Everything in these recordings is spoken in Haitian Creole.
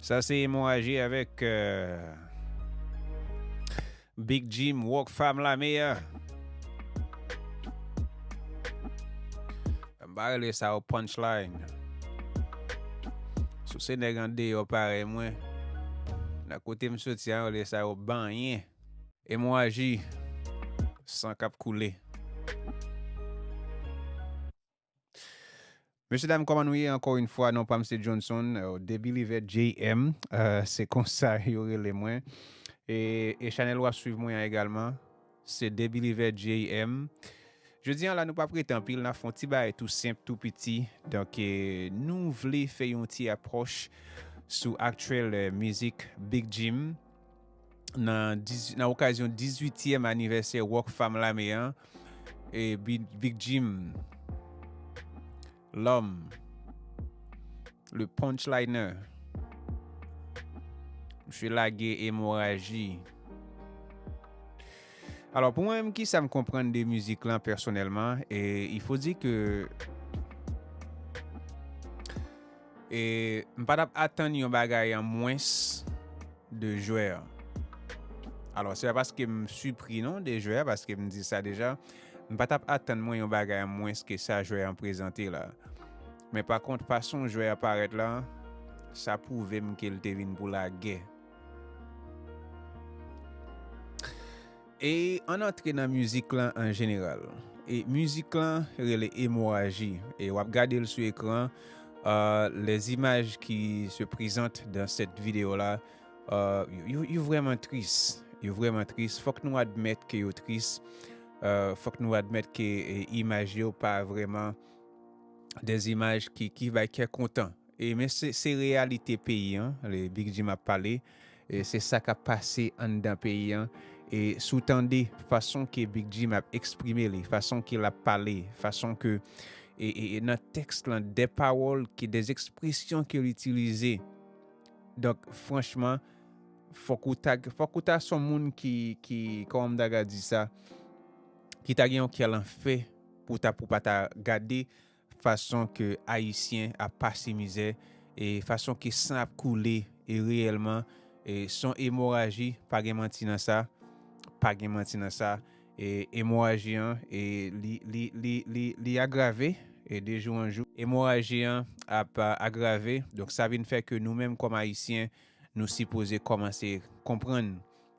Sa se emoraji avèk Big Jim Rock Fam la meya. M pa rele sa yo punchline. Si w se nèg andeyò parèy mwen, nan kote m soti a yo rele sa yo banyen. Emoraji, san k ap koule. Mesye dam koman nou ye anko yn fwa non pam se Johnson the believer JM se konsa yo rele mwen e chanel wap swiv mwen an egalman se the believer JM Jodi an la nou pap rete anpil na fon ti bay tou senp tou piti donk nou vle fè yon ti apwoch sou aktyèl mizik Big Jim. nan okazyon 18 yèm anivèsè Rock Fam Lame an e Big Jim Lòm Le Punchliner Msye lage emoraji alò pou mwen m ki sa m konprann de mizik lan pèsonèlman e ifo di ke E m pa t ap atann yon bagay an mwens de jwè an. Alò, se pa paske m sipri non de jwè an, paske m di sa deja, m pa t ap atann mwen yon bagay an mwens ke sa jwè an prezante la. Men pa kont, fason jwè an parèt la, sa pwouve m ke l te vin pou lagè. E ann antre nan mizik lan an jeneral. E mizik lan rele emoraji e wap gade l sou ekran les images qui se presentent dans cette video là yo vrèman tris yo vrèman tris fòk nou admèt ke yo tris fòk nou admèt ke imaj yo pa vrèman des images qui bay kè kontan e men se reyalite peyi an le Big Jim ap pale. e se sa kap pase anndan peyi an e si w tande fason ke Big Jim ap eksprime li, fason ke lap pale, fason ke e e nan tèks lan dè pawòl ke dè ekspresyon ke l itilize donk franchman fòk ou ta fòk ou ta son moun ki ki kòman m ta ka di sa ki ta gen yon kè lanfè pou ta pou pa ta gade fason ke ayisyen ap pase mizè e fason ke san ap koule e reyèlman e son emoraji pa gen manti nan sa pa gen manti nan sa e emoraji an e li li li li li agrave e de jou an jou emoraji an ap agrave donk sa vin fè ke nou menm kòm ayisyen nou sipoze kòmanse konprann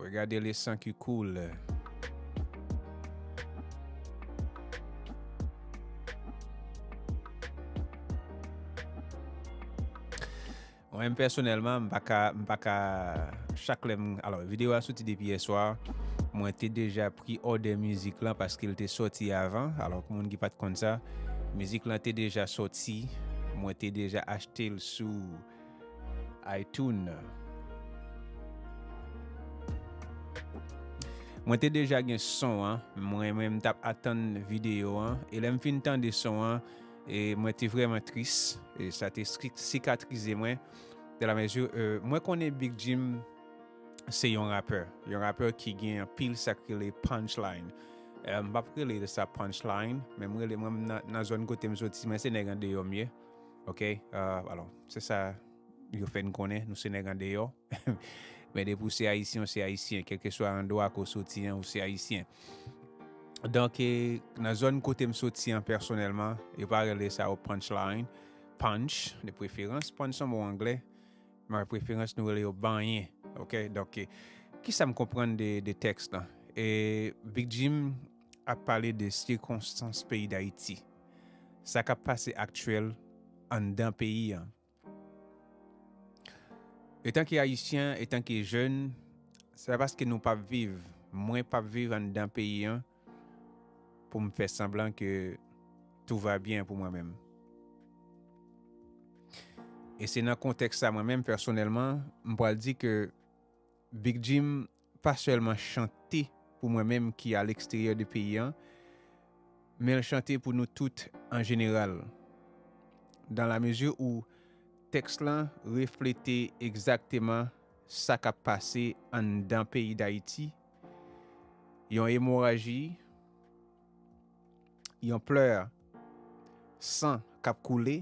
Regade le san ki koule. Mwen pèsonèlman m pa ka m pa ka chak lè m alò videyo a soti depi yè swa mwen te deja pri òdè mizik lan paske l te soti avan alò pou moun ki pat konn sa mizik lan te deja soti mwen te deja achte l sou iTunes. Mwen te deja gen son an, mwen menm m tap atann videyo an, e lè m fin tande son an, e mwen te vrèman tris, e sa te sikatrize mwen, de la mezi, mwen konnen Big Jim se yon rapè, yon rapè ki gen anpil sa k rele punchline, m pap rele sa punchline, men m rele, mwen menm nan zòn kote m soti, mwen se nèg andeyò m ye. Ok, alò, se sa yo fè n konnen, nou se nèg an deyò. Men depi ou se Ayisyen, ou se Ayisyen. Kèlke swa andwa ke ou soti an, ou se Ayisyen. Donk, nan zòn kote m soti an pèsonèlman, yo pa rele sa yo punch line. Punch, de preferans. Punch se yon mo angle. Men de preferans nou rele yo banyen. Ok, donk, ki sa m konprann de tèks lan? E Big Jim ap pale de sikonstans peyi Dayiti. sa kap pase aktyèl anndan peyi an. Etanke ayisyen, etanke jèn, se pa paske nou pap viv, mwen pap viv anndan peyi an pou m fè sanblan ke tou va byen pou mwen menm. E se nan kontèks sa mwen menm pèsonèlman m pwal di ke Big Jim pa sèlman chante pou mwen menm ki a leksteryè de peyi an, men l chante pou nou tout an jeneral. Dan la mezi ou tèks lan reflete egzakteman sa k ap pase anndan peyi Dayiti, yon emoraji, yon plè san k ap koule,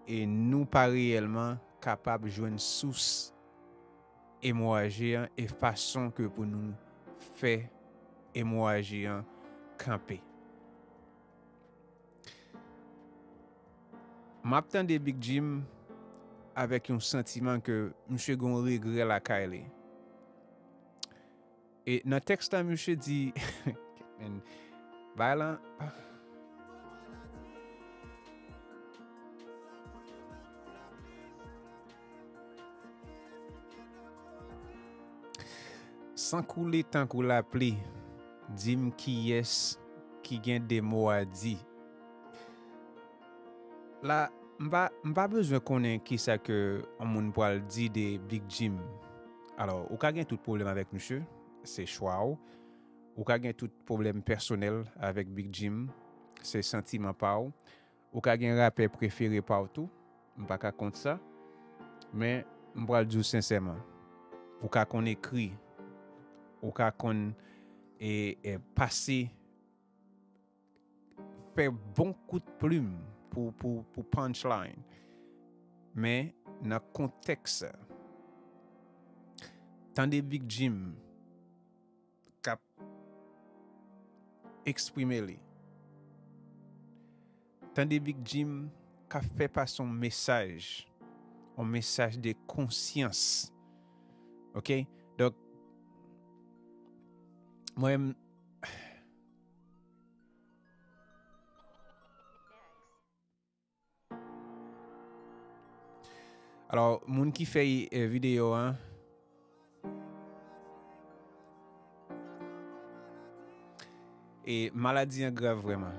e nou pa reyèlman kapab jwenn sous emoraji an e fason ke pou nou fè emoraji an kanpe. M ap tande Big Jim avèk yon santiman ke misye gen yon regrè lakay li. E nan tèks la misye di men bagay lan San koule tankou lapli di m kiyès ki gen de mo a di La m pa bezwen konnen kisa ke yon moun pral di de Big Jim. Alò, ou ka gen tout pwoblèm avèk misye, se chwa ou. Ou ka gen tout pwoblèm pèsonèl avèk Big Jim, se santiman pa ou. Ou ka gen rapè prefere pa ou tou, m pa ka kont sa. Men, m pral di ou sensèman, ou ka konn ekri, ou ka konn e pase. fè bon kout plim pou pou pou punch line men nan kontèks tande Big Jim kap eksprime li tande Big Jim ka fè pase yon mesaj yon mesaj de konsyans ok donk mwen Alors, moun ki fè euh, vidéo an, e maladi an grav vreman.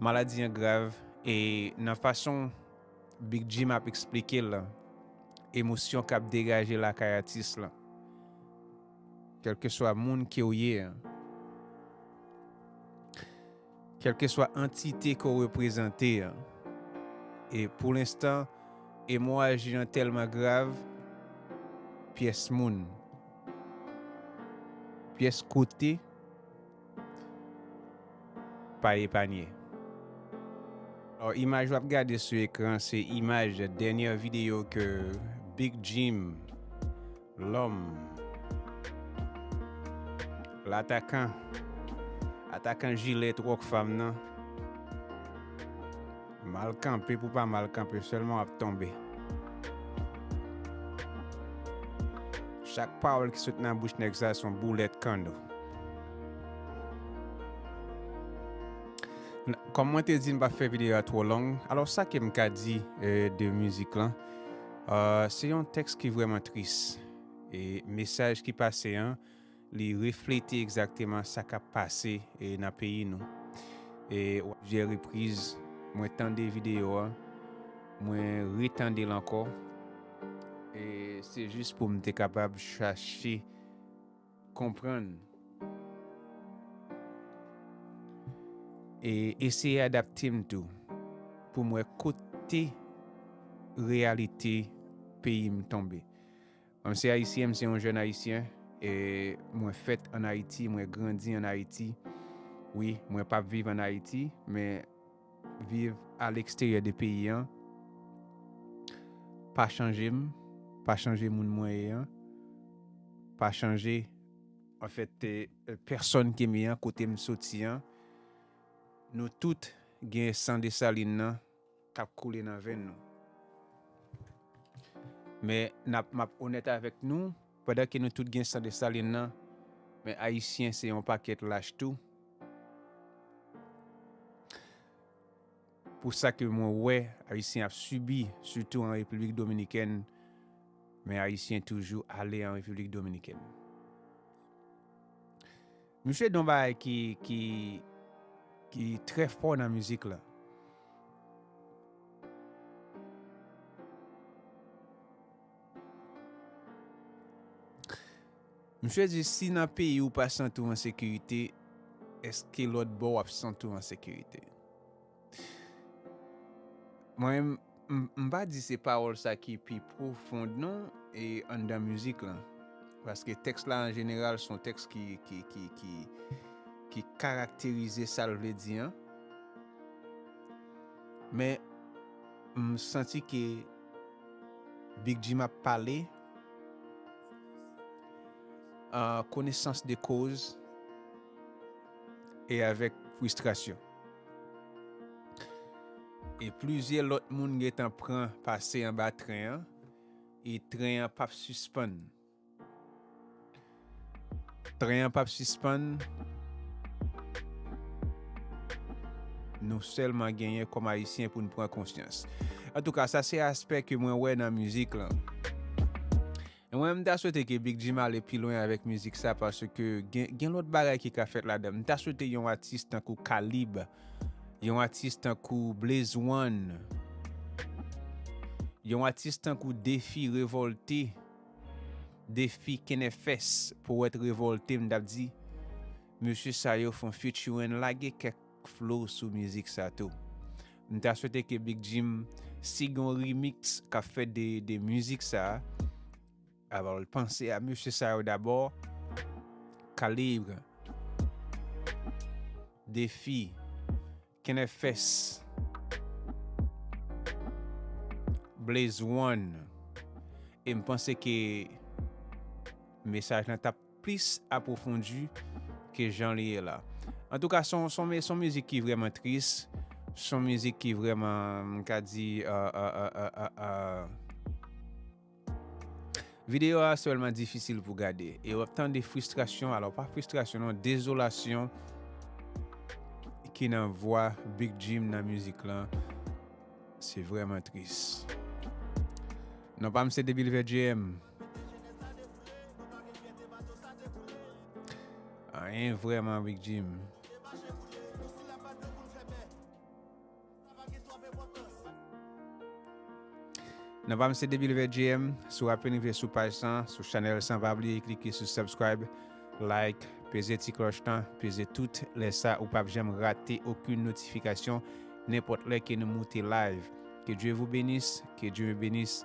Maladi an grav, e nan fason Big Jim ap eksplike la, emosyon kap degaje la kay atis la. Kèlkeswa moun ke w ye an. Kèlkeswa antite ke w reprezante an. E pou lenstan, emoraji an tèlman grav, pyès moun, pyès kote, pa epanye. Or imaj wap gade sou ekran se imaj dènyè video ke Big Jim lòm latakan atakan jilèt Rockfam nan Mal kanpe pou pa mal kanpe sèlman wap tonbe. Chak pawòl ki sot nan bouch nèg sa son boulèt kanno. Kòm mwen te di m pa fè videyo a twò long, alò sa ke m ka di de mizik lan, se yon tèks ki vrèman tris e mesaj ki pase an li reflete egzakteman sa k ap pase nan peyi nou. E a plizyè repriz, mwen tande videyo a, mwen retande l ankò, e se jis pou m te kapab chache konprann e eseye adapte m tou pou m wè kote reyalite peyi m tonbe. Mwen se Ayisyen, m se yon jèn Ayisyen, e mwen fèt an Ayiti, mwen grandi an Ayiti. Wi, mwen pap viv an Ayiti, men viv a leksteryè de peyi an pa chanje m, pa chanje moun mwen ye an, pa chanje anfèt pèsòn ke m ye an, kote m soti an. Nou tout gen san Dessalines nan. k ap koule nan venn nou. Men n ap m ap onèt avèk nou, pandan ke nou tout gen san Desalin lan, men Ayisyen se yon pakèt lach tou. Pou sa ke mwen wè Ayisyen ap sibi, sitou an Repiblik Dominikèn, men Ayisyen toujou ale an Repiblik Dominikèn. Misye di yon bagay ki ki ki trè fò nan mizik la. Misye di si nan peyi ou pa santi w an sekirite, eske lòt bò w ap santi w an sekirite? Mwen m pa di se pawòl sa ki pi pwofond non e anndan mizik lan. Paske tèks la an jeneral son tèks ki ki ki ki ki karakterize sa l vle di an. Men m santi ke Big Jim ap pale an konesans de koz e avèk fristrasyon. E plizyè lòt moun gentan pran pase anba tren an e tren an pap sispann. Tren an pap sispann. Nou sèlman genyen kòm ayisyen pou nou pran konsyans. An tou ka sa se aspè ke mwen wè nan mizik lan. E mwen m ta swete ke Big Jim ale pi lwen avèk mizik sa paske gen gen lòt bagay ki ka fèt ladan. M ta swete yon atis tankou K-lib, yon atis tankou Blaze One, yon atis tankou D-fi Revolte, D-fi Kennefès, Powèt Revolte m tap di mesye sa yo fon featuring lage kèk k flow sou mizik sa tou. M ta swete ke Big Jim si gen yon remix k ap fèt de mizik sa, alò l panse a mesye sa yo dabò, Calibre, D-Fi, Kennefs, Blaze One e m panse ke mesaj lan t ap plis apwofondi ke jan li ye la. Antouka son son mizik ki vrèman tris, son mizik ki vrèman m ka di aahhh. Videyo a se vrèman difisil pou gade e wap tande fristrasyon alò pa fristrasyon non dezolasyon ki nan vwa Big Jim nan mizik lan se vrèman tris. Non pa m se Debilvejm. Mete jenès la defre. Nou pa gen fyète bato sa te koule. Anyen vrèman Big Jim. Te mache koule. Nou si la pa dlo pou n fè bè. Sa pa gen twòp enpòtans. Nan pam se Debilvet JM, si w apen rive sou paj san, sou chanèl san pa bliye klike sou subscribe, like, peze ti klòch lan, peze tout, lè sa ou pap janm rate okenn notifikasyon nenpòt lè ke nou moute live. Que Dieu vous benisse, que Dieu me benisse.